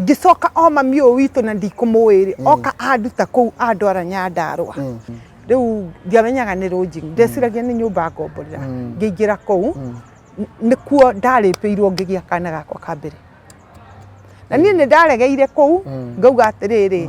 ngĩcoka o mami ũyũ witũ na ndikũmũĩrĩ mm. oka anduta kũu andwara nyandarwa mm. rĩu ndiamenyaga nĩ rũnji mm. ndeciragia nĩ nyũmba ngomborera ngĩingĩra kũu nĩkuo ndarĩpĩirwo ngĩgĩa kana gakwa ka mbere na niĩ nĩ ndaregeire kũu ngauga atĩrĩrĩ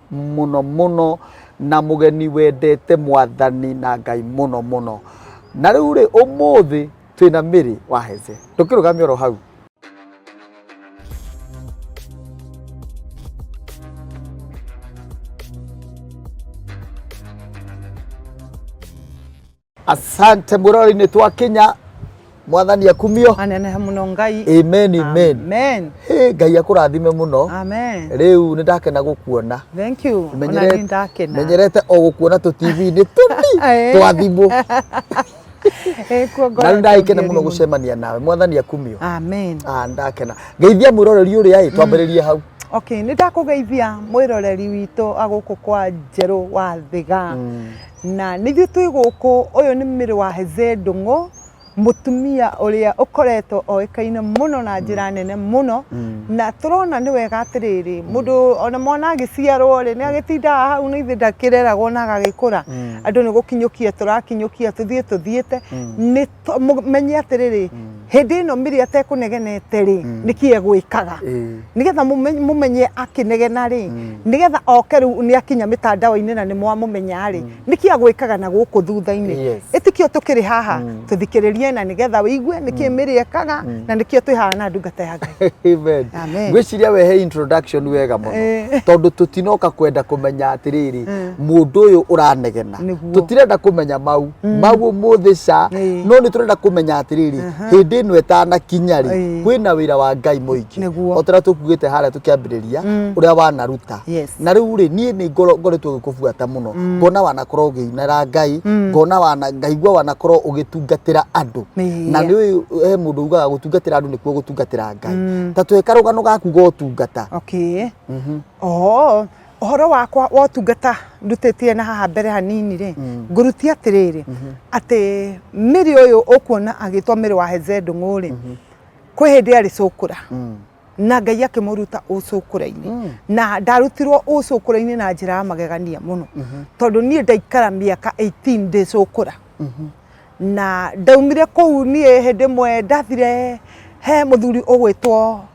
mũno mũno na mũgeni wendete mwathani na ngai mũno mũno na rĩu rĩ ũmũthĩ twĩna mĩrĩ wa heze tũkĩrũgamia oro hau Asante mũrori-inĩ twa Kenya, mwathani akumio. aneneha muno ngai Amen, amen. amen Hey, Ngai akũrathime mũno. amen Rĩu nĩ ndakena gũkuona. thank you ona Menyerete- ni ndakena Menyerete o gũkuona tũ TV-inĩ tũni Eh. twa thimũ. Eh, kuo ngoro Na nĩ ndakena ĩkĩngĩri mũno gũcemania nawe. Mwathani akumio. amen Ah, nĩ ndakena. Ngeithia mwĩroreri ũrĩa ĩ twambĩrĩrie hau. okay nä ndakå geithia mwä roreri witå agå kå kwa njerå wa thiga Na nĩithuĩ twĩ gũkũ, ũyũ nĩ Mary Waheze Ndung'u, mũtumia ũrĩa ũkoretwo oĩkaine mũno na njĩra nene mũno, na tũrona nĩ wega atĩrĩrĩ, mũndũ ona mwana agĩciarwo rĩ, nĩ agĩtindaga hau nĩ ithuĩ ndakĩreragwo na agagĩkũra, andũ nĩ gũkinyũkia tũrakinyũkia tũthiĩ tũthiĩte, nĩ... to- mu- menye atĩrĩrĩ hĩndĩ ĩno mĩrĩ atekũnegenete rĩ Mm. nĩkĩ egwĩkaga Eh. nĩgetha mũmenye- mũmenye akĩnegena rĩ Mm. nĩgetha oke rĩu nĩ akinya mĩtandao-inĩ na nĩ mwamũmenya rĩ nĩkĩ agwĩkaga na gũkũ thutha-inĩ Yes. ĩtikio tũkĩrĩ haha Mm. tũthikĩrĩrie na nĩgetha wĩigue nĩkĩ mĩrĩ ekaga Mm. na nĩkĩo twĩhana ndungata ya ngai Amen. Amen. ngwĩciria we he introduction wega mũno Eh. tondũ tũtinoka kwenda kũmenya atĩrĩrĩ Mm. mũndũ ũyũ ũranegena Nĩguo. tũtirenda kũmenya mau mau ũmũthĩ ca Ĩĩ. no nĩ tũrenda kũmenya atĩrĩrĩ hĩndĩ ĩno ĩtanakinya rĩ Ĩĩ. kwĩna wĩra wa ngai mũingĩ Nĩguo. otara tũkuĩte harĩa tũkĩambĩrĩria ũrĩa wanaruta Yes. na rĩu rĩ niĩ nĩ ngoro- ngoretwo gĩkũbuata mũno ngona wanakorwo ũgĩinara ngai ngona wana ngaigua wanakorwo ũgĩtungatĩra andũ Ĩĩ. na nĩ ũyũ he mũndũ ugaga gũtungatĩra andũ nĩkuo gũtungatĩra ngai ta tweka rũgano gaku gotungata Okay. Mhm. Oh, ũhoro wakwa wa ũtungata ndutĩtie na haha mbere hanini rĩ mm. ngũrutie atĩrĩrĩ mm-hmm. atĩ mĩrĩ ũyũ ũkuona agĩtwo mĩrĩ wa hezendũng'ũ rĩ mm-hmm. kwĩ hĩndĩ arĩ cũkũra mm. na ngai akĩmũruta ũcũkũra-inĩ mm. na ndarutirwo ũcũkũra-inĩ na njĩra ya magegania mũno mm-hmm. tondũ niĩ ndaikara mĩaka 18 ndĩ cũkũra na ndaumire kũu niĩ hĩndĩ ĩmwe ndathire he mũthuri ũgwĩtwo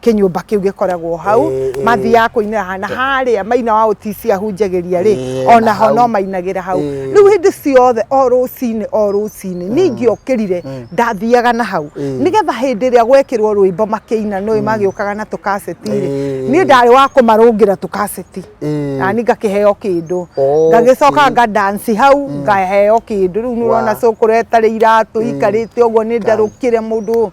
kinyumba kiu gikoragwo hau eh, eh. mathiaga kuinira na haria maina wa utisia hunjagiria ri eh, ona ho no mainagira hau riu hindi ciothe o rucini o rucini mm. ningi okirire mm. ndathiaga na hau nigetha hindi ria gwekirwo rwimbo makiina no mm. magiukaga na tukaseti ri ni ndari wa kumarungira tukaseti na ni ngakiheo kindu oh, ngagicoka nga dance hau ngaheo kindu riu ni urona cukuru etari iratu ikarite uguo ni ndarukire mundu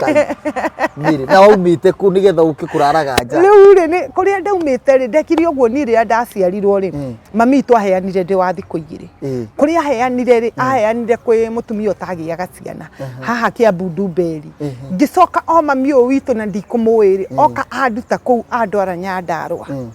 Kai, nĩrĩ na waumĩte kũ nĩgetha ũke kũraraga nja rĩu rĩ nĩ kũrĩa ndaumĩte rĩ ndekire ũguo niĩ rĩrĩa ndaciarirwo rĩ Mm. mami witũ aheanire ndĩ wa thikũ igĩrĩ Eh, kũrĩa aheanire rĩ aheanire kwĩ mũtumia ũtagĩaga ciana haha kĩambu ndumberi Mhm. ngĩcoka o mami ũyũ witũ na ndikũmũĩ rĩ oka anduta kũu andwara nyandarwa Mm.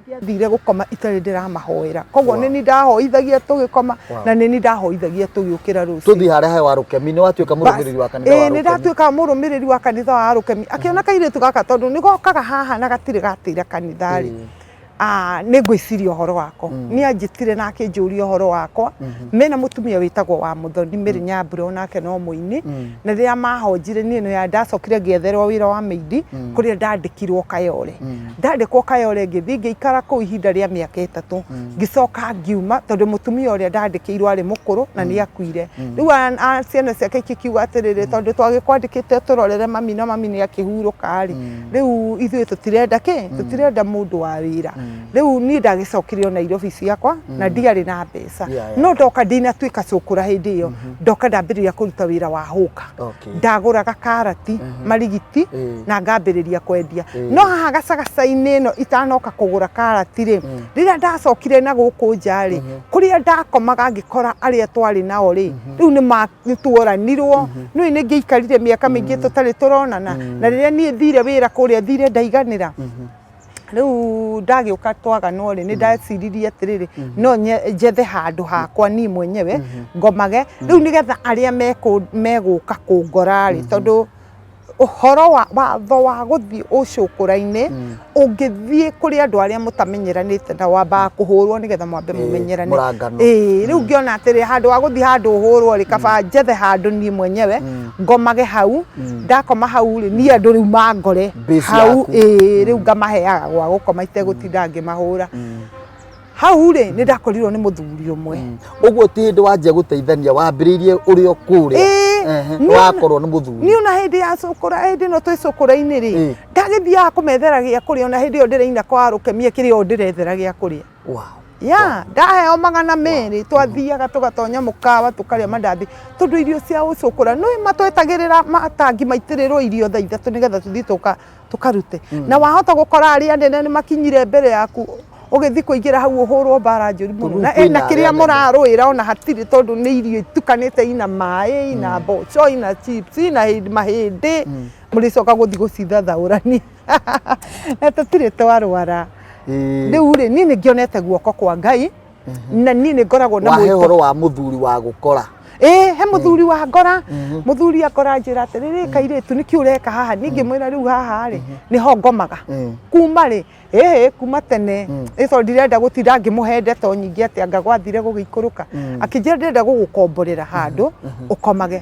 ndiathire gũkoma itarĩ ndĩramahoera koguo nĩ ni ndahoithagia tũgĩkoma na nĩ ni ndahoithagia tũgĩũkĩra rũciũ tũthiĩ harĩa he wa rũkemi nĩ watuĩka mũrũmĩrĩri wa kanitha wa nĩ ndatuĩka mũrũmĩrĩri wa kanitha wa rũkemi akĩona kairĩtu gaka tondũ nĩ gokaga haha na gatirĩ gatĩra kanitha rĩ ah, nĩ ngwĩciria ũhoro wako mm. nĩ anjĩtire na akĩnjũria ũhoro wakwa mm-hmm. mena mũtumia wĩtagwo wa mũthoni mĩrĩ mm. nyambura onake no mũini mm. na rĩrĩa mahonjire niĩ nĩ ndacokire ngĩetherwo wĩra wa mĩindi kũrĩa ndandĩkirwo kayore Ndandĩkwo Kayole ngĩthiĩ ngĩikara kũu ihinda rĩa mĩaka ĩtatũ mm. ngĩcoka ngiuma tondũ mũtumia ũrĩa ndandĩkĩirwo arĩ mũkũrũ na mm. nĩ akuire mm. rĩu ciana ciake ikiuga atĩrĩrĩ tondũ twagĩkwandĩkĩte tũrorere mami na mami nĩ akĩhurũka rĩ rĩu ithuĩ tũtirenda kĩ tũtirenda mũndũ wa wĩra rĩu niĩ ndagĩcokire o Nairobi ciakwa na ndiarĩ na mbeca no ndoka ndinatuĩka cũkũra hĩndĩ ĩyo mm-hmm. ndoka ndambĩrĩria kũruta wĩra wa hũka ndagũraga karati marigiti na ngambĩrĩria kwendia no haha gacagaca-inĩ ĩno itanoka kũgũra karati rĩ rĩrĩa ndacokire na gũkũ nja rĩ kũrĩa ndakomaga ngĩkora arĩa twarĩ nao rĩ rĩu nĩ tuoranirwo nĩ nĩ ngĩikarire mĩaka mĩingĩ tũtarĩ tũronana na rĩrĩa niĩ thire wĩra kũrĩa thire ndaiganĩra rĩu ndagĩũka twagano rĩ nĩ ndeciririe atĩrĩrĩ no nye- njethe handũ hakwa niĩ mwenyewe ngomage rĩu nĩgetha arĩa mekũ- megũka kũngora rĩ tondũ ũhoro wa watho wa gũthiĩ ũcũkũra-inĩ ũngĩthiĩ kũrĩ andũ arĩa mũtamenyeranĩte na wambaga kũhũrwo nĩgetha mwambe Ĩĩ, mũmenyerane mũrangano. Ĩĩ, rĩu ngĩona atĩrĩ handũ wa gũthiĩ handũ ũhũrwo rĩ kaba njethe handũ niĩ mwenyewe ngomage hau ndakoma hau rĩ niĩ andũ rĩu mangore Base hau yaku. ĩĩ rĩu ngamaheaga gwa gũkoma itegũtinda ngĩmahũra hau rĩ nĩ ndakorirwo nĩ mũthuri ũmwe ũguo ti hĩndĩ wanjia gũteithania wambĩrĩirie ũrĩ o kũrĩa Ĩĩ, Ehe, nĩ ona- wakorwo nĩ mũthuri niĩ ona hĩndĩ ya cũkũra hĩndĩ ĩno twĩ cũkũra-inĩ rĩ Ĩĩ. ndagĩthiaga kũmethera gĩa kũrĩa ona hĩndĩ ĩyo ndĩraina kwa rũkemia kĩrĩa o ndĩrethera gĩa kũrĩa Yeah, ndaheo magana merĩ twathiaga tũgatonya mũkawa tũkarĩa mandathi tondũ irio cia ũcũkũra nĩ matwetagĩrĩra matangi maitĩrĩrwo irio thaa ithatũ nĩgetha tũthiĩ tũka tũkarute mm. na wahota gũkora arĩa anene nĩ makinyire mbere yaku ũgĩthiĩ kũingĩra hau ũhũrwo mbara njũru mũno na ena kĩrĩa mũrarũĩra ona hatirĩ tondũ nĩ irio itukanĩte ina maĩ ina mm. mboco ina chips ina mahĩndĩ mm. mũrĩcoka gũthiĩ gũcithathaũrania na tũtirĩ twarwara Ĩĩ. rĩu rĩ niĩ nĩ ngĩonete guoko kwa ngai na niĩ nĩ ngoragwo na wahe mũiko- horo wa mũthuri wa gũkora ĩĩ he mũthuri wa ngora mũthuri akora njĩra atĩrĩrĩ kairĩtu nĩkĩ ũreka haha ningĩ mwĩra rĩu haha rĩ nĩho ngomaga Mm. kuma rĩ ĩĩ kuma tene ĩco ndirenda gũtira ngĩmũhe ndeto nyingĩ atĩ anga gwathire gũgĩikũrũka akĩnjĩra ndĩrenda gũgũkomborera handũ ũkomage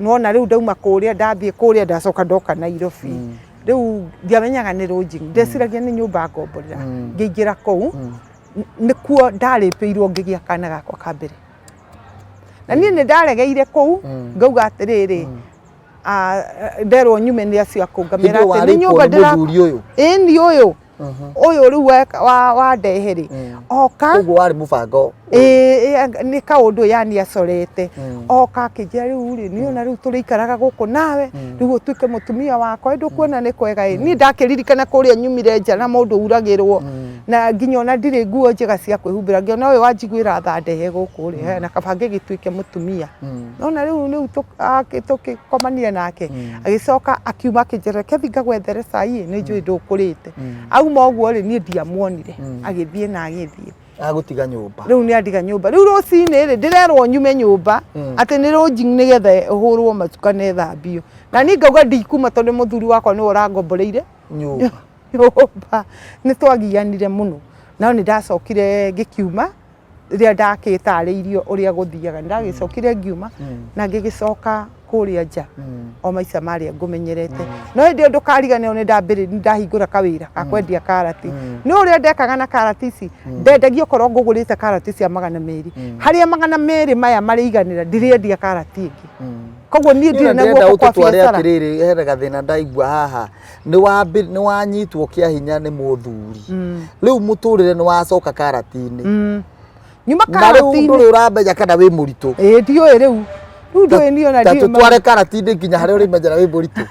nona riu ndauma kuria ndathie kuria ndacoka ndoka Nairobi mm. riu ndiamenyaga ni lodging mm. ndeciragia ni nyumba ngomborera mm. ngiingira kuu mm. nikuo ndaripirwo ngigia kana gakwa ka mbere na nie ni ndaregeire kuu mm. ngauga atiriri mm. nderwo nyume ni acio akungamira ni nyumba ndira ni uyu ũyũ rĩu wandehe rĩ mm. oka ũguo warĩ mũbango nĩ kaũndũ yani acorete mm. oka akĩnjĩra rĩu rĩ nĩ ona rĩu tũrĩikaraga gũkũ nawe mm. rĩu ũtuĩke mũtumia wakwa ndũkuona nĩ kwega ĩ niĩ ndakĩririkana kũrĩa nyumire nja na mũndũ uragĩrwo na nginya ona ndirĩ nguo njega cia kwĩhumbĩra ngĩona ũyũ wanjiguĩra tha ndehe gũkũ rĩ na kaba ngĩgĩtuĩke mũtumia nona rĩu rĩu tũkĩkomanire nake agĩcoka akiuma akĩnjĩra reke thiĩ ngagwethere cai nĩ njũĩ ndũkũrĩte auma ũguo rĩ niĩ ndiamuonire agĩthiĩ na agĩthiĩ agũtiga nyũmba rĩu nĩ andiga nyũmba rĩu rũcinĩ rĩ ndĩrerwo nyume nyũmba atĩ nĩ rũnji nĩgetha hũrwo macuka na ĩthambio na niĩ ngauga ndikuma tondũ mũthuri wakwa nĩwe ũrangomboreire nyũmba nyũmba nĩ twagianire mũno no nĩ ndacokire ngĩkiuma rĩrĩa ndakĩtaarĩirio ũrĩa gũthiaga ndagĩcokire ngiuma na ngĩgĩcoka kũrĩa nja o maica marĩa ngũmenyerete no hĩndĩ ĩyo ndũkariganĩrwo nĩ ndambĩrĩ nĩ ndahingũra kawĩra ga kwendia karati nĩ ũrĩa ndekaga na karati ici ndendagia okorwo ngũgũrĩte karati cia magana merĩ harĩa magana merĩ maya marĩiganĩra ndirĩendia karati ĩngĩ koguo niĩ ndirĩ na Ndĩrenda guoko kwa ũtũtware biacara atĩrĩrĩ he gathĩna ndaigua haha nĩ wambi nĩ wanyitwo kĩa hinya nĩ mũthuri Mm. rĩu mũtũrĩre nĩ wacoka karatinĩ Mm. nyuma na rĩu karatinĩ ndũrĩ ũramenya kana wĩ mũritũ ĩĩ ndiũĩ rĩu rĩu ndũĩ niĩ ona ta ndiũĩ ma- tũtware karatinĩ nginya harĩa ũrĩmenyera wĩ mũritũ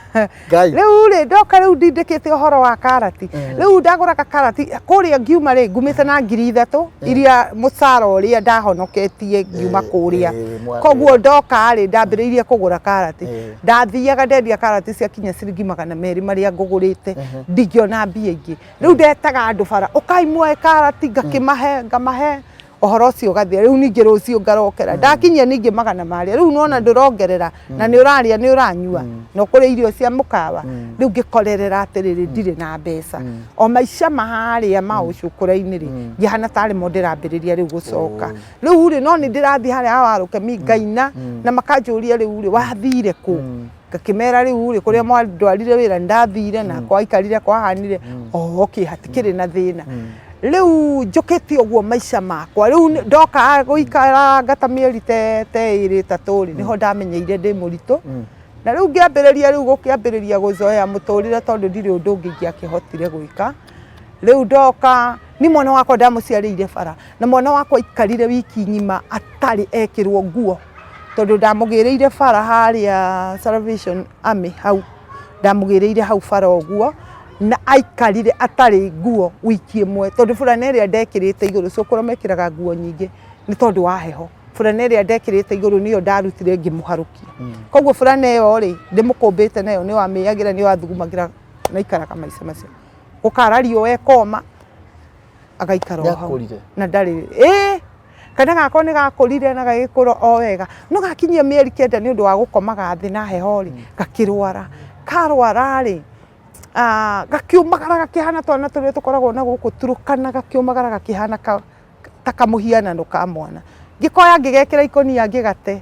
ngai rĩu rĩ ndoka rĩu ndindĩkĩte ũhoro wa karati rĩu ndagũraga karati kũrĩa ngiuma rĩ ngumĩte na ngiri ithatũ iria mũcara ũrĩa ndahonoketie ngiuma Eh, kũrĩa eh, mwana koguo ndoka rĩ ndambĩrĩirie kũgũra karati Eh. ndathiaga ndendia karati ciakinya ciringi magana merĩ marĩa ngũgũrĩte ndingĩona mbia ingĩ rĩu ndetaga andũ bara ũkai muoe karati ngakĩmahe ngamahe ũhoro ũcio ũgathira rĩu ningĩ rũciũ ngarokera ndakinyia ningĩ magana marĩa rĩu nona ndũrongerera na nĩ ũrarĩa nĩ ũranyua na ũkũrĩa irio cia mũkawa rĩu ngĩkorerera atĩrĩrĩ ndirĩ na mbeca o maica ma harĩa ma ũcũkũra-inĩ rĩ ngĩhana tarĩ mo ndĩrambĩrĩria rĩu gũcoka rĩu rĩ no nĩ ndĩrathiĩ harĩa ha warũkemi mm. ngaina mm. na makanjũria rĩu rĩ wathire kũ mm. ngakĩmera rĩu rĩ kũrĩa mwandwarire wĩra ndathire na kwaikarire kwahanire oho kĩ hatikĩrĩ na thĩna rĩu njũkĩtie ũguo maica makwa rĩu ndoka gũikara ngata mĩeri te ĩrĩ ĩtatũ rĩ nĩho ndamenyeire ndĩ mũritũ na rĩu ngĩambĩrĩria rĩu gũkĩambĩrĩria gũzoea mũtũrĩre tondũ ndirĩ ũndũ ũngĩ ingĩakĩhotire gwĩka rĩu ndoka ni mwana wakwa ndamuciarĩire bara na mwana wakwa ikarire wiki ng'ima atarĩ ekĩrwo nguo tondũ ndamũgĩrĩire bara harĩa Salvation Army hau ndamũgĩrĩire hau bara ũguo na aikarire atarĩ nguo wiki ĩmwe tondũ burana ĩrĩa ndekĩrĩte igũrũ cũkũrũ mekĩraga nguo nyingĩ nĩ tondũ wa heho burana ĩrĩa ndekĩrĩte igũrũ nĩyo ndarutire ngĩmũharũkia koguo burana ĩyo rĩ ndĩmũkũmbĩte nayo nĩyo amĩagĩra nĩyo athugumagĩra maikaraga maica macio gũkara riũa ekoma agaikara o hau Nĩakũrire? na ndarĩ ĩ kana gakwa nĩ gakũrire na gagĩkũra o wega no gakinyia mĩeri kenda nĩ ũndũ wa gũkomaga thĩ na heho rĩ gakĩrwara karwara rĩ ah, gakiumagara gakĩhana twana tũrĩa tũkoragwo na gũkũ turũkana gakiumagara gakĩhana ka- ta kamũhianano ka mwana ngĩkoya ngĩgekĩra ikũnia ngĩgate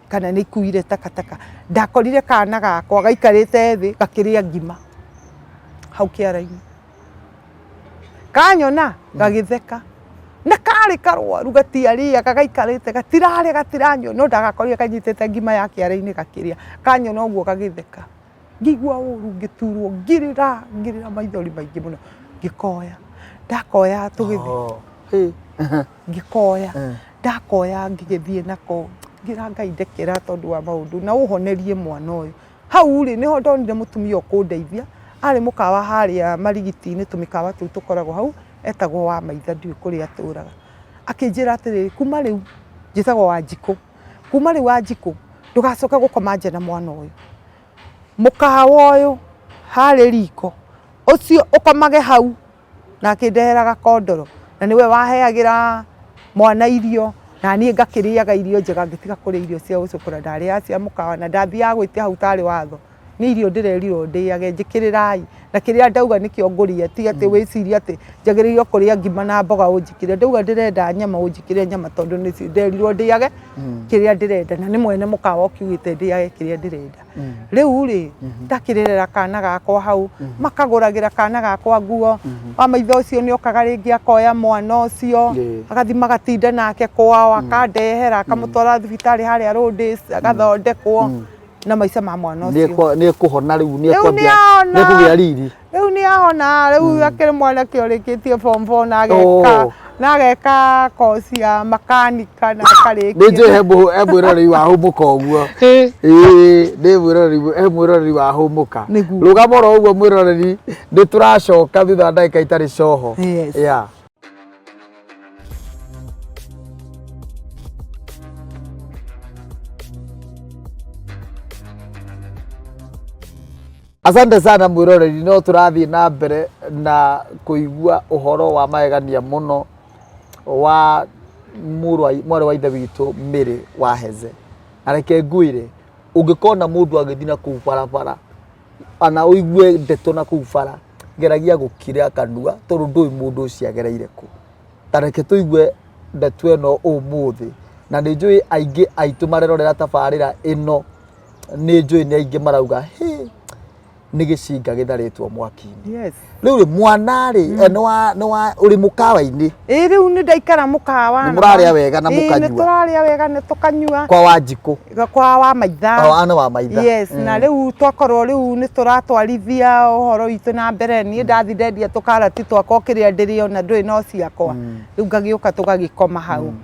kana nĩ ikuire takataka ndakorire kana gakwa gaikarĩte thĩ gakĩrĩa ngima hau kĩara-inĩ kanyona gagĩtheka na karĩ karwaru gatiarĩaga gaikarĩte gatirarĩa gatiranyua no ndagakorire kanyitĩte ngima ya kĩara-inĩ gakĩrĩa kanyona ũguo gagĩtheka Ngĩigua ũru ngĩturwo ngĩrĩra ngĩrĩra maithori maingĩ mũno ngĩkoya ndakoya tũgĩthiĩ oh, ngĩkoya eh. ndakoya ngĩgĩthiĩ nako ngira ngai ndekera tondũ wa maũndũ na ũhonerie mwana ũyũ hau rĩ nĩho ndonire mũtumia ũkũndeithia arĩ mũkawa harĩa marigiti-inĩ tũmĩkawa tũu tũkoragwo hau etagwo wa maitha ndiũĩ kũrĩa atũraga akĩnjĩra atĩrĩrĩ kuma rĩu njĩtagwo wanjikũ kuma rĩu Wanjikũ ndũgacoke gũkoma nja na mwana ũyũ. Mũkawa ũyũ harĩ riko ũcio ũkomage hau na akĩndehera gakondoro na nĩwe waheagĩra mwana irio na niĩ ngakĩrĩaga irio njega ngĩtiga kũrĩa irio cia gũcũkũra ndarĩaga cia mũkawa na ndathiaga gwĩtia hau tarĩ watho. Nĩ irio ndĩrerirwo ndĩage, njĩkĩrĩrai. Na kĩrĩa ndauga nĩkĩo ngũrĩa, ti atĩ wĩcirie atĩ njagĩrĩirwo kũrĩa ngima na mboga ũnjĩkĩrĩre. Ndauga ndĩrenda nyama ũnjĩkĩrĩre nyama tondũ nĩ nderirwo ndĩage kĩrĩa ndĩrenda. Na nĩ mwene mũkawa ũkiugĩte ndĩage kĩrĩa ndĩrenda. Rĩu rĩ, ngakĩrerera kana gakwa hau, makagũragĩra kana gakwa nguo, wa maitho ũcio nĩ okaga rĩngĩ akoya mwana ũcio, agathiĩ magatinda nake kwao, akandehera, akamũtwara thibitarĩ harĩa Rũndĩs, agathondekwo. na maica ma mwana ucio Nĩkwa- nĩkũhona rĩu Rĩu nĩkwambia nĩahona. nĩkũgĩa riri riu nä ahona rä u akä rä mwanake å rä kä tie form four na ageka Oh. na ageka koci ya makanika na akarä nĩ njũĩ he mbũ- he mwĩroreri wa hũmũka ũguo Ĩĩ, nĩ mwĩroreri- he mwĩroreri wa hũmũka Nĩguo. rũgama oro ũguo mwĩroreri nĩ tũracoka thutha wa ndagĩka itarĩ coho Yes. Yeah. Asante sana mwiroreri, no turathiĩ na mbere na kũigua ũhoro wa magegania mũno wa mũrũ wa- mwarĩ wa ithe witũ Mary Waheze. Na reke ngwĩre, ũngĩkona mũndũ agĩthiĩ na kũu barabara ana ũigue ndeto na kũu bara geragia gũkira kanua tondũ ndũĩ mũndũ ũcio agereire kũ ta reke tũigue ndeto ĩno ũmũthĩ na nĩ njũĩ aingĩ aitũ marerorera tabarĩra ĩno nĩ njũĩ nĩ aingĩ marauga "Hĩ, nĩ gĩcinga gĩtharĩtwo mwaki-inĩ yes Rĩu rĩ mwana rĩ mm. eh, nĩ wa nĩ wa ũrĩ mũkawa-inĩ. Ĩ rĩu nĩ ndaikara mũkawa. Nĩ mũrarĩa wega na mũkanyua. Nĩ tũrarĩa wega nĩ tũkanyua. Kwa wa njikũ. Kwa wa maitha. Kwa wa wa maitha. Yes, mm. na rĩu twakorwo rĩu nĩ tũratwarithia ũhoro witũ na mbere niĩ mm. ndathi ndendia tũkarati twakwa kĩrĩa ndĩrĩona ndũĩ no ciakwa. Mm. Rĩu ngagĩũka tũgagĩkoma hau. Mm.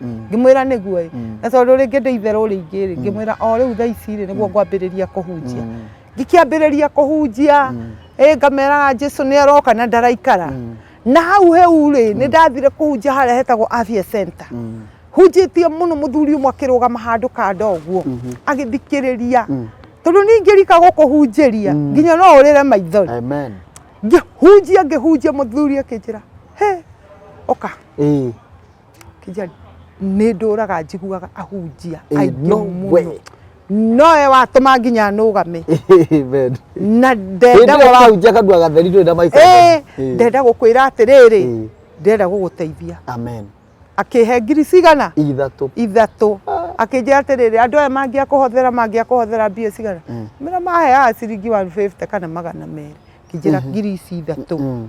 Mm. ngĩmwĩra nĩguo ĩ Mm. na tondũ rĩngĩ ndĩ itherũ rĩingĩ rĩ ngĩmwĩra o rĩu thaa ici rĩ nĩguo ngwambĩrĩria kũhunjia Mm. ngĩkĩambĩrĩria kũhunjia Mm. ĩ ngameraga jesu nĩ aroka na ndaraikara Mm. na hau heu rĩ nĩ ndathire kũhunjia harĩa hetagwo avia center Mm. hunjĩtie mũno mũthuri ũmwe akĩrũgama handũ kanda ũguo Mhm. agĩthikĩrĩria Mm. tondũ ningĩ rika gũkũhunjĩria Mm. nginya no ũrĩre maithori Amen. ngĩhunjia ngĩhunjia mũthuri akĩnjĩra he ũka Ĩĩ. Kijali, nĩ ndũraga njiguaga ahunjia Ĩ, aingĩ no mũno we. nowe watũma nginya nũgame Amen. na Hĩndĩ ndenda ĩyo ũrahunjia kanua gatheri ndũrĩ na microphone. Ĩ, ndenda gũkwĩra atĩrĩrĩ Ĩ. ndenda gũgũteithia Amen. akĩhe ngiri cigana Ithatũ. ithatũ akĩnjĩra atĩrĩrĩ andũ aya mangĩa kũhothera mangĩa kũhothera mbia cigana mĩra maheaga ciringi 150 kana magana merĩ kĩnjĩra ngiri ici ithatũ Mm.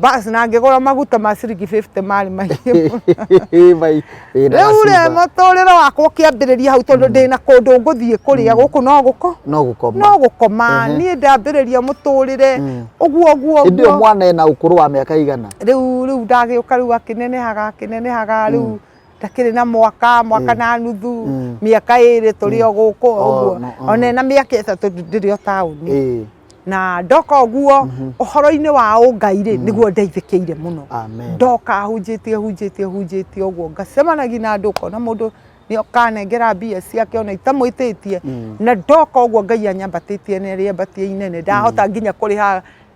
basi na ngĩgũra maguta ma ciringi 50 marĩ maingĩ mũno. rĩu rĩ mũtũrĩre wakwa ũkĩambĩrĩria hau tondũ ndĩ na kũndũ ngũthiĩ kũrĩa gũkũ no gũko no gũkoma no gũkoma Ehe. niĩ ndambĩrĩria mũtũrĩre Mm. ũguo ũguo ĩndĩ ũyũ ũguo mwana ena ũkũrũ wa mĩaka igana rĩu rĩu ndagĩũka rĩu akĩnenehaga akĩnenehaga rĩu takĩrĩ na mwaka mwaka na nuthu mĩaka ĩrĩ tũrĩ o gũkũ ũguo ona ĩna mĩaka ĩtatũ ndĩrĩ o taũni na ndoka ũguo mhm. ũhoro-inĩ wa ũngai rĩ mhm. nĩguo ndeithĩkĩire mũno ndoka hunjĩtie hunjĩtie hunjĩtie ũguo ngacemanagia na andũ ũkona mũndũ nä okanengera mbia ciake ona itamwĩtĩtie mm. na ndoka ũguo ngai anyambatĩtie nä rä ambatia inene ndahota mm. nginya kå rä ha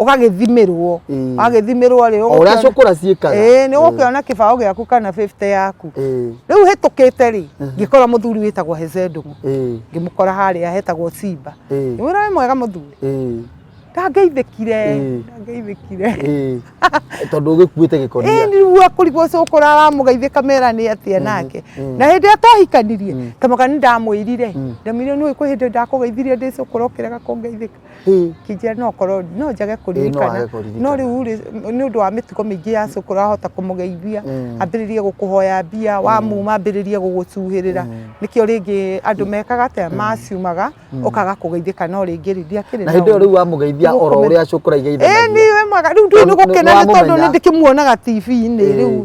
ũgagĩthimĩrwo wagĩthimĩrwo rĩ ũrĩa cũkũra ciĩkaga ĩĩ nĩ ũgũkĩona kĩbaũ gĩaku kana 50 yaku rĩu hĩtũkĩte rĩ ngĩkora mũthuri wĩtagwo Hezedũmu ngĩmũkora harĩa hetagwo Simba ngĩmwĩra wĩ mwega mũthuri ndangeithĩkire ndangeithĩkire tondũ ũgĩkuĩte gĩkonia ĩĩ nĩguo kũrigwo cũkũra aramũgeithĩka mera nĩ atĩa mm-hmm. nake mm. na hĩndĩ ĩrĩa twahikanirie mm. kamoga nĩ ndamwĩrire mm. ndamwĩrire nĩ ũĩ kwĩ hĩndĩ ndakũgeithirie ndĩ cũkũra ũkĩrega kũngeithĩka kĩnjĩra no korwo no njage kũririkana no rĩu rĩ nĩ ũndũ wa mĩtugo mĩingĩ ya cũkũ ũrahota kũmũgeithia mm. ambĩrĩrie gũkũhoya mbia mm. wamuma ambĩrĩrie gũgũcuhĩrĩra mm. nĩkĩo rĩngĩ andũ mekaga atĩa maciumaga ũkaga kũgeithĩka no rĩngĩ rĩngĩ akĩrĩ na hĩndĩ rĩu wamũgeithia oro ũrĩa cũkũ raigeithanagia eh, nĩ wemaga rĩu ndũĩ nĩ gũkena nĩ tondũ nĩ ndĩkĩmuonaga TV-inĩ rĩu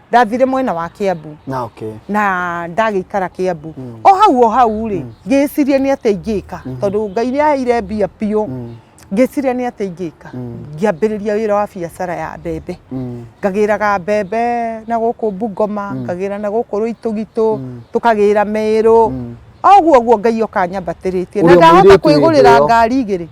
ndathire mwena wa Kiambu na okay na ndagĩikara Kiambu mm. o hau o hau rĩ mm. ngĩciria nĩ atĩa ingĩka mm. tondũ Ngai nĩ aheire mbia biũ mm. ngĩciria nĩ atĩa ingĩka mm. ngĩambĩrĩria wĩra wa biacara ya mbembe mm. ngagĩraga mbembe na gũkũ Bungoma mm. ngagĩra na gũkũ Rũitũgitũ mm. tũkagĩra Merũ mm. oguo guo Ngai okanyambatĩrĩtie na ndahota kwĩgũrĩra ngari igĩrĩ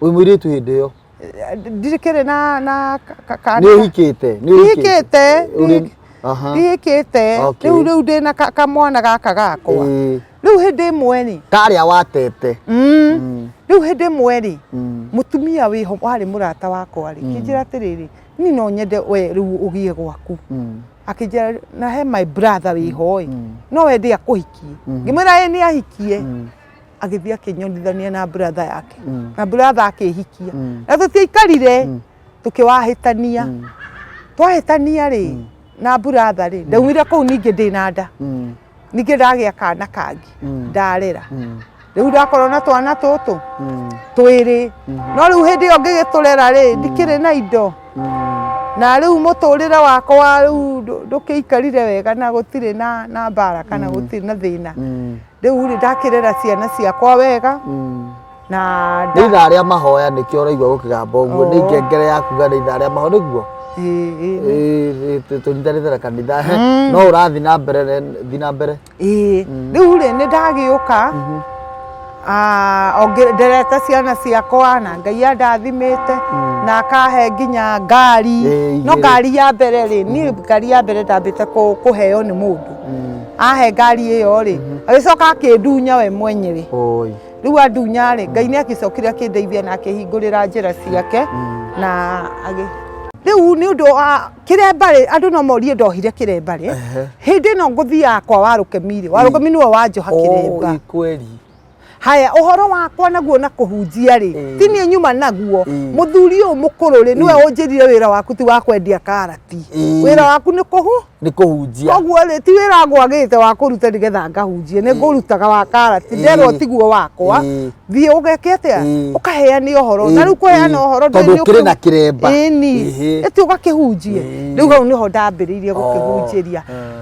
wĩ mũirĩtu hĩndĩ ĩyo Eh, ndirikĩrĩ na na ka- ka- ka- nä å hikä te ndihikĩte Ũrĩ- Aha. ndihikĩte Okay. rĩu rĩu ndĩ na ka- kamwana gaka gakwa Ĩĩ. rĩu hĩndĩ ĩmwe rĩ karä a watete mm, rĩu hĩndĩ ĩmwe rĩ Mm. mũtumia wĩho warĩ mũrata wakwa rĩ kĩnjĩra atĩrĩrĩ ni no nyende we rĩu ũgĩe gwaku Mm. akĩnjĩra na he my brother wĩho ĩ no wende akũhikie ngĩmwĩra ĩ nĩ ahikie agĩthiĩ akĩnyonithania na brother yake Mm. na brother akĩhikia Mm. na tũtiaikarire Mm. tũkĩwahĩtania Mm. twahĩtania rĩ na brother rĩ ndaumire kũu ningĩ ndĩ na nda Mm. ningĩ ndagĩa kana kangi Mm. ndarera Mm. rĩu ndakorwo na twana tũtũ Mm. twĩrĩ Mhm. no rĩu hĩndĩ ĩyo ngĩgĩtũrera rĩ ndikĩrĩ na indo Mm. na rĩu mũtũrĩre wakwa rĩu ndũ- ndũkĩikarire wega na gũtirĩ na na mbara kana gũtirĩ na thĩna Mm. Rĩu rĩ ndakĩrera ciana ciakwa wega na nĩ nda- ithaa rĩa mahoya nĩkĩo ũraigua gũkĩgamba ũguo nĩ Oo. ngengere ya kuga nĩ ithaa rĩa mahoya nĩguo Ĩ- ĩ- ĩ- ĩ- tũnyitanĩte na kanitha he, no ũrathi na mbere ne- thi na mbere ĩ. rĩu rĩ nĩ ndagĩũka Ah, onge- nderete ciana ciakwa na ngai andathimĩte na akahe nginya ngari Ĩ, no igĩrĩ. ngari ya mbere rĩ niĩ ngari ya mbere ndambĩte kũ- kũheo nĩ mũndũ ahe ngari ĩyo rĩ mhm. agĩcoka akĩndunya we mwenyere rĩu andunya rĩ ngai nĩ agĩcokire akĩndeithia na akĩhingũrĩra njĩra ciake mm. na agĩ riu ni undu wa kiremba ri andu no morie ndohire kiremba ri hindi no nguthiaga kwa waruke miri waruke miri wa njoha kiremba haya uhoro wakwa naguo na kuhunjia ri mm. ti ni nyuma naguo mm. muthuri uyu mukuru ri niwe mm. unjirire wira waku ti wa kwendia karati mm. wira waku ni kuhu ni kuhunjia koguo ri ti wira ngwagite wa kuruta ni getha ngahunjie ni mm. ngurutaga wa karati mm. nderwo tiguo wakwa mm. thie ugeke atia mm. ukaheania uhoro na riu kuheana uhoro tondu kiri na kiremba ni eti ugakihunjie riu hau niho ndambiriirie gukihunjiria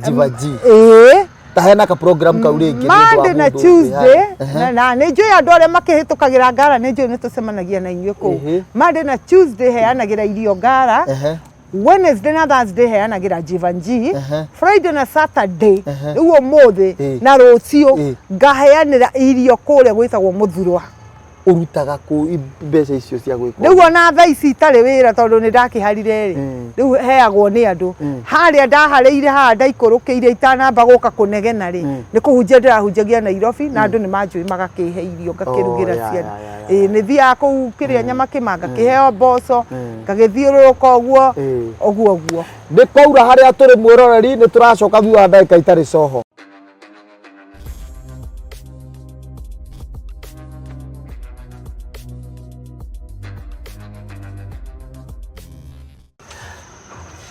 njibaji ĩĩ tahena ka program kau rĩngĩ nĩ ũndũ wa Monday na mũndũ Tuesday wĩhana. na- na nĩ njũĩ andũ arĩa makĩhĩtũkagĩra ngara nĩ njũĩ nĩ tũcemanagia na inyuĩ kũu Mhm. Monday na Tuesday heanagĩra irio ngara Ehe. Wednesday na Thursday heanagĩra Jivanji Ehe. Friday na Saturday Ehe. rĩu ũmũthĩ Eh. na rũciũ Eh. ngaheanĩra irio kũrĩa gwĩtagwo mũthurwa ũrutaga kũ mbeca icio cia gwĩka rĩu ona tha ici itarĩ wĩra tondũ nĩ ndakĩharire rĩ mm. rĩu heagwo nĩ andũ mm. harĩa ndaharĩire haha ndaikũrũkĩire itanamba gũka kũnegena rĩ mm. nĩ kũhunjia ndĩrahunjagia Nairobi na andũ nĩ manjũĩ magakĩhe irio ngakĩrugĩra oh, ciana ĩĩ nĩ thiaga kũu kĩrĩa nyama kĩma ngakĩheo mboco ngagĩthiũrũrũka ũguo ũguo ũguo nĩ kwaura harĩa tũrĩ mwĩroreri nĩ tũracoka thutha wa ndagĩka itarĩ coho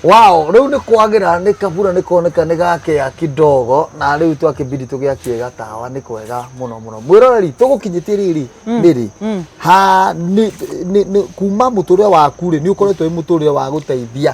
Wow, rĩu nĩ kwagĩra nĩ kabura nĩ kuoneka nĩ gakĩa kidogo na rĩu twakĩbidi tũgĩakie gatawa nĩ kwega mũno mũno mwĩroreri tũgũkinyĩtie rĩrĩ rĩrĩ ha nĩ- nĩ- nĩ- kuma mũtũrĩre waku rĩ nĩ ũkoretwo wĩ mũtũrĩre wa gũteithia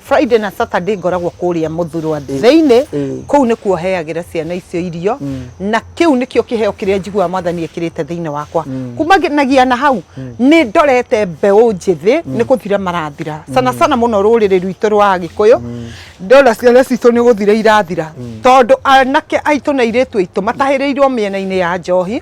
Friday na Saturday ngoragwo kũrĩa Mũthurwa thĩinĩ, kũu nĩkuo heagĩra ciana icio irio na kĩu nĩkĩo kĩheo kĩrĩa njiguaga mwathani ekĩrĩte thĩinĩ wakwa. Kumanagia na hau nĩ ndorete mbeũ njĩthĩ nĩ gũthira marathira sana sana mũno rũrĩrĩ rwitũ rwa Agĩkũyũ, ndona ciana citũ nĩ gũthira irathira tondũ anake aitũ na airĩtu aitũ matahĩrĩirwo mĩena-inĩ ya njohi.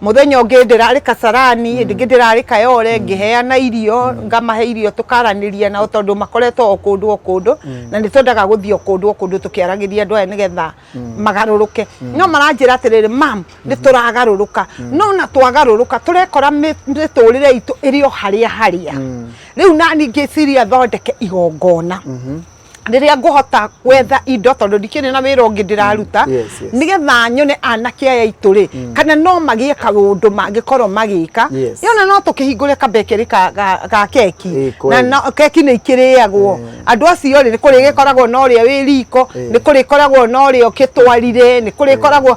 muthenya ungi ndirari kasarani mm. ndingi ndirari kayore mm. ngiheana irio mm. ngamahe irio tukaraniria nao tondu makoretwo o kundu o kundu mm. na ni tondaga guthi o kundu o kundu tukiaragiria andu aya nigetha mm. magaruruke mm. no maranjira atiriri mam mm. ni turagaruruka mm. no na twagaruruka turekora miturire itu iri o haria haria mm. riu nani ngiciria thondeke igongona mm -hmm. rĩrĩa ngũhota gwetha indo tondũ ndikĩrĩ na wĩra ũngĩ ndĩraruta mm, nĩgetha nyone anake aya itũ rĩ mm. kana no magĩe kaũndũ mangĩkorwo magĩka yona no tũkĩhingũre kabekeri ga keki na keki nĩ ikĩrĩagwo mm. andũ acio rĩ nĩ kũrĩgĩkoragwo na ũrĩa wĩ riko nĩ kũrĩkoragwo na ũrĩa ũkĩtwarire nĩ kũrĩkoragwo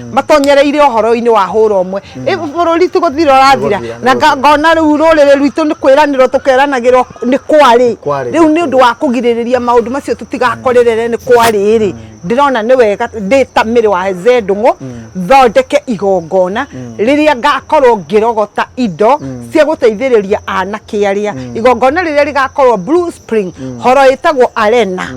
matonyereire ũhoro-inĩ wa hũra ũmwe bũrũri ti gũthira ũrathira na ngona rĩu rũrĩrĩ rwitũ nĩ kwĩranĩrwo tũkeranagĩrwo nĩ kwarĩ rĩu nĩ ũndũ wa kũgirĩrĩria maũndũ macio tũtigakorerere nĩ kwarĩ-rĩ ndĩrona nĩ wega ndĩ ta mĩrĩ wa zendũng'ũ thondeke igongona rĩrĩa ngakorwo ngĩrogota indo cia gũteithĩrĩria anake arĩa igongona rĩrĩa rĩgakorwo Blue Spring horo ĩtagwo Arena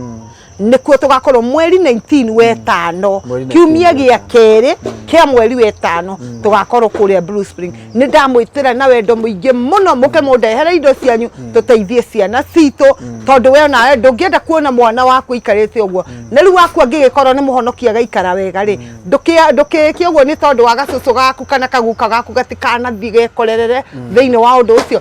nĩkuo tũgakorwo mweri 19 wetano Mweri 19 kiumia gĩa wetano. kerĩ kĩa mweri wetano tũgakorwo kũrĩa Blue Spring nĩ ndamwĩtĩra na wendo mũingĩ mũno mũke mũndehere indo cianyu tũteithie ciana citũ tondũ we nawe ndũngĩenda kuona mwana waku aikarĩte ũguo na rĩu waku angĩgĩkorwo nĩ mũhonokia agaikara wega rĩ ndũkĩa- ndũkĩĩke ũguo nĩ tondũ wa gacũcũ gaku kana kaguka gaku gatikanathiĩ gekorerere thĩinĩ wa ũndũ ũcio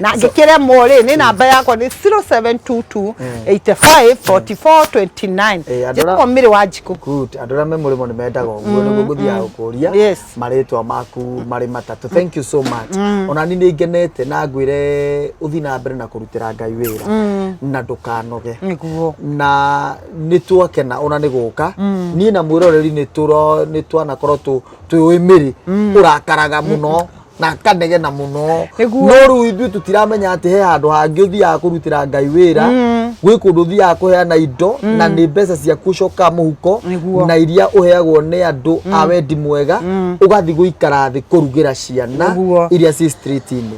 na ngĩkĩremwo rĩ nĩ namba yakwa nĩ 0722 85 44 29 Eh, andũ njĩtagwo mĩrĩ wa njikũ Good. Andũ arĩa me mũrĩmo nĩ mendaga ũguo nĩguo ngũthiaga gũkũria Yes. marĩtwa maku marĩ matatũ. Thank you so much. Ona niĩ nĩ ngenete na ngwĩre ũthiĩ na mbere na kũrutĩra Ngai wĩra na ndũkanoge. nĩguo na nĩ twakena ona nĩ gũka niĩ na mwĩroreri nĩ tũro- nĩ twanakorwo tũ- twĩũĩ mĩrĩ ũrakaraga mũno na kanege na muno Nĩguo. no rĩu ithuĩ tũtiramenya atĩ he handũ hangĩ ũthiaga kũrutĩra ngai wĩra gwĩ kũndũ ũthiaga kũheana indo na nĩ mbeca ciaku coka mũhuko Nĩguo. na iria ũheagwo nĩ andũ a wendi mwega ũgathiĩ gũikara thĩ kũrugĩra ciana Nĩguo. iria ci street-inĩ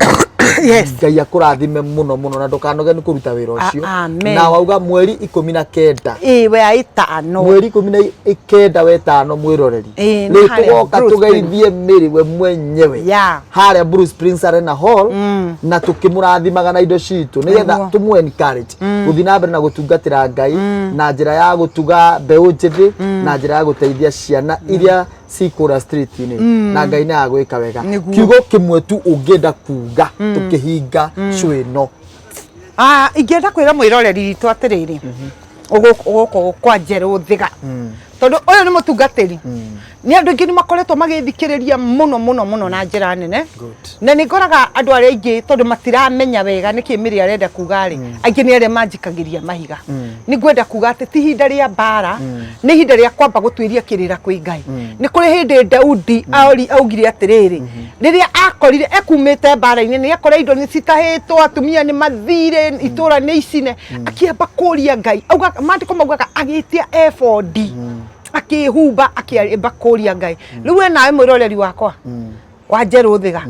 yes ngai akũrathime mũno mũno na ndũkanoge nĩ kũruta wĩra ũcio A- amen. na wauga mweri ikũmi na kenda ĩĩ we aitano mweri ikũmi na i- kenda wetano mwĩroreri Eh, nĩ harĩa tũgoka Bruce tũgeithie mĩrĩ we mwenyewe Yeah. harĩa Bruce Prince Arena Hall na tũkĩmũrathimaga na indo citũ nĩgetha Nĩguo. tũmũ encourage gũthiĩ na mbere na gũtungatĩra Ngai na njĩra ya gũtuga mbeũ njĩthĩ na njĩra ya gũteithia ciana iria cikũra street-inĩ na Ngai nĩ agwĩka wega Nĩguo. kiugo kĩmwe tu ũngĩenda kuga tũkĩhinga cũ ĩno Ah, ingĩenda kwĩra mwĩroreri witũ atĩrĩrĩ gũkũ kwa njerũ thiga tondũ ũyũ nĩ mũtungatĩri nĩ andũ aingĩ nĩ makoretwo magĩthikĩrĩria mũno mũno mũno na njĩra nene na nĩ ngoraga andũ arĩa aingĩ tondũ matiramenya wega nĩkĩ mĩrĩ arenda kuga rĩ aingĩ nĩ arĩa manjikagĩria mahiga nĩ ngwenda kuga atĩ ti ihinda rĩa mbara nĩ ihinda rĩa kwamba gũtuĩria kĩrĩra kwĩ ngai nĩ kũrĩ hĩndĩ daudi aori augire atĩrĩrĩ rĩrĩa akorire ekumĩte mbara-inĩ nĩ akore indo nĩ citahĩtwo atumia nĩ mathire itũra nĩ icine akĩamba kũria ngai Auga- maandĩko maugaga agĩtia ebodi akĩhumba akĩamba kũria ngai rĩu we nawe mwĩroreri wakwa wa njerũ thĩga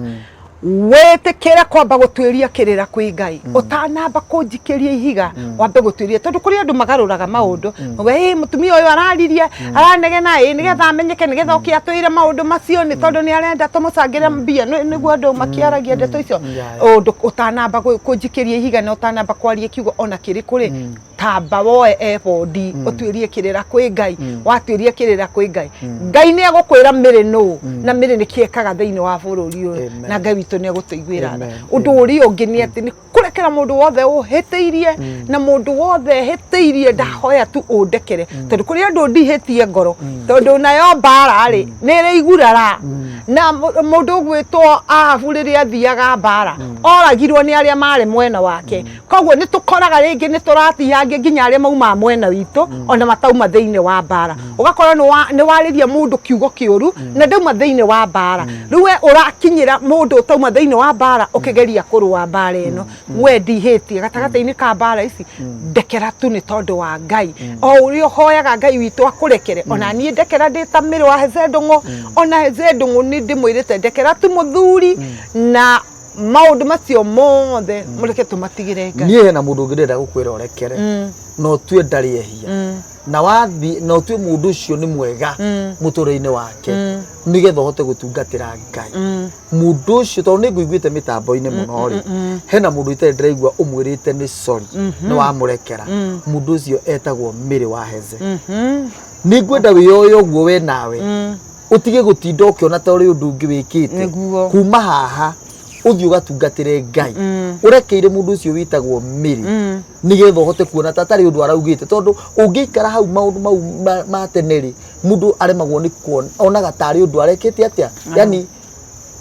wĩtĩkĩre kwamba gũtuĩria kĩrĩra kwĩ ngai ũtanamba kũnjikĩria ihiga wambe gũtuĩria tondũ kũrĩ andũ magarũraga maũndũ we "Ĩ, mũtumia ũyũ araririe mm. aranegena ĩ nĩgetha amenyeke nĩgetha oke atwĩre maũndũ macio nĩ tondũ nĩ arenda tũmũcangĩre mm. mbia nĩguo andũ makĩaragia ndeto icio mm. ũndũ ũtanamba kũnjikĩria ihiga na ũtanamba kwaria kiugo ona kĩrĩ kũrĩ tamba woe ebodi ũtuĩrie kĩrĩra kwĩ ngai watuĩria kĩrĩra kwĩ ngai ngai nĩ egũkwĩra mĩrĩ nũ na mĩrĩ nĩ kĩekaga thĩinĩ wa bũrũri ũyũ na ngai witũ nĩ egũtũiguĩra tha ũndũ ũrĩa ũngĩ nĩ atĩ kurekera mundu wothe uhitiirie mm. na mundu wothe ehitiirie mm. ndahoya tu undekere mm. tondu kuri andu ndihitie ngoro tondu nayo mbara ri ni ri igurara na mundu gwitwo ahabu riria athiaga mbara oragirwo ni aria mari mwena wake koguo ni tukoraga ringi ni turatihangia nginya aria mauma mwena witu ona matauma thiini wa mbara ũgakora nĩ warĩria mũndũ kiugo kĩũru mm. na ndauma thĩinĩ wa mbara mm. rĩu we ũrakinyĩra mũndũ ũtauma thĩinĩ wa mbara mm. ũkĩgeria kũrũa mbara ĩno we ndihĩtie gatagatĩ-inĩ ka mbara ici ndekera tu nĩ tondũ wa ngai o ũrĩa ũhoyaga ngai witũ akũrekere ona niĩ ndekera ndĩ ta mĩrũ wa hezendũng'ũ ona hezendũng'ũ nĩ ndĩmwĩrĩte ndekera tu mũthuri na maundu macio mothe mureke tumatigire ngai niä hena må ndå å ngä ndä renda gå kwä ra å rekere no tue ndarä ehia na wathiĩ na ũtue mũndũ ũcio nĩ mwega mũtũrĩre-inĩ wake nĩgetha ũhote gũtungatĩra ngai mũndũ ũcio tondũ nĩ ngũiguĩte mĩtambo-inĩ mũno rĩ hena mũndũ itarĩ ndĩraigua ũmwĩrĩte nĩ sorry nĩ wamũrekera mũndũ ũcio etagwo mĩrĩ wa heze nĩ ngwenda wĩyoe ũguo we nawe ũtige gũtinda ũkĩona ta ũrĩ ũndũ ũngĩ wĩkĩte Nĩguo. kuma haha ũthiĩ ũgatungatĩre ngai ũrekeire mũndũ ũcio wĩtagwo mĩrĩ nigetha uhote kuona ta tari undu araugite tondu ungiikara hau maundu mau ma- ma tene ri mundu aremagwo ni kuona onaga tari undu arekete atia yani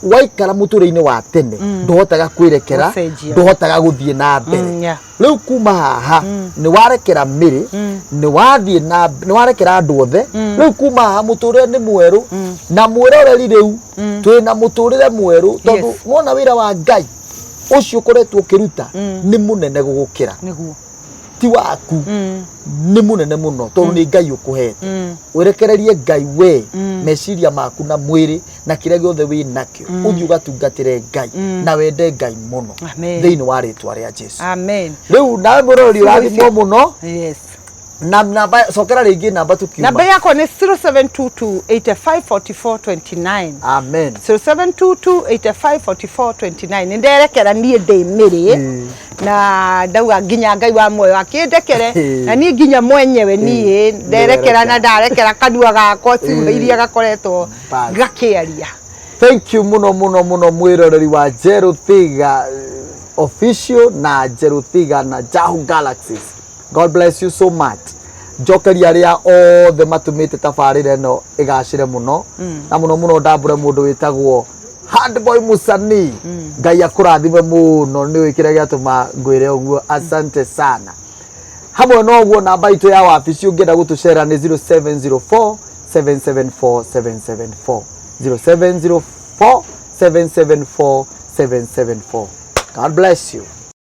waikara muture-ini wa tene nduhotaga kwirekera Gũcenjia. nduhotaga guthie na mbere Mm, yeah. riu kuma haha ni warekera miri ni wathie na ni warekera andu othe riu kuma haha muturire ni mweru na mwiroreri riu twi na muturire mweru tondu Yes. wona wira wa ngai ũcio ũkoretwo ũkĩruta Mm. nĩ mũnene gũgũkĩra nĩguo ti waku Mm, nĩ mũnene mũno tondũ nĩ ngai ũkũhete mm, werekererie ngai we Mm. meciria maku na mwĩrĩ na kĩrĩa gĩothe wĩ nakĩo ũthiĩ ũgatungatĩre ngai Mm. na wende ngai mũno Amen. thĩinĩ wa rĩtwa rĩa jesu amen rĩu nawe mũrori ũrathimwo mũno yes na namba cokera rĩngĩ namba tũkiuma namba yakwa nĩ 0722854429 amen 0722854429 nĩ nderekera niĩ ndĩ mĩrĩ Mm. na ndauga nginya ngai wa muoyo akĩndekere Mm. na niĩ nginya mwenyewe niĩ nderekera Nderekera. na ndarekera kanua gakwa ciugo iria gakoretwo Bas. gakĩaria thank you muno muno muno mwiroreri wa njerũ thiga eh, official na njerũ thiga na jahu galaxies God bless you so much njokeria arĩa othe matumĩte tabarĩra ĩno ĩgacĩre mũno na mũno mũno ndambũre mũndũ wĩtagwo handboy musani ngai akũrathime mũno nĩ wĩ kĩrĩa gĩatũma ngwĩre ũguo asante sana hamwe na ũguo namba itũ ya wabici ũngĩenda gũtũcera nĩ 0704 774 774 0704 774 774 god bless you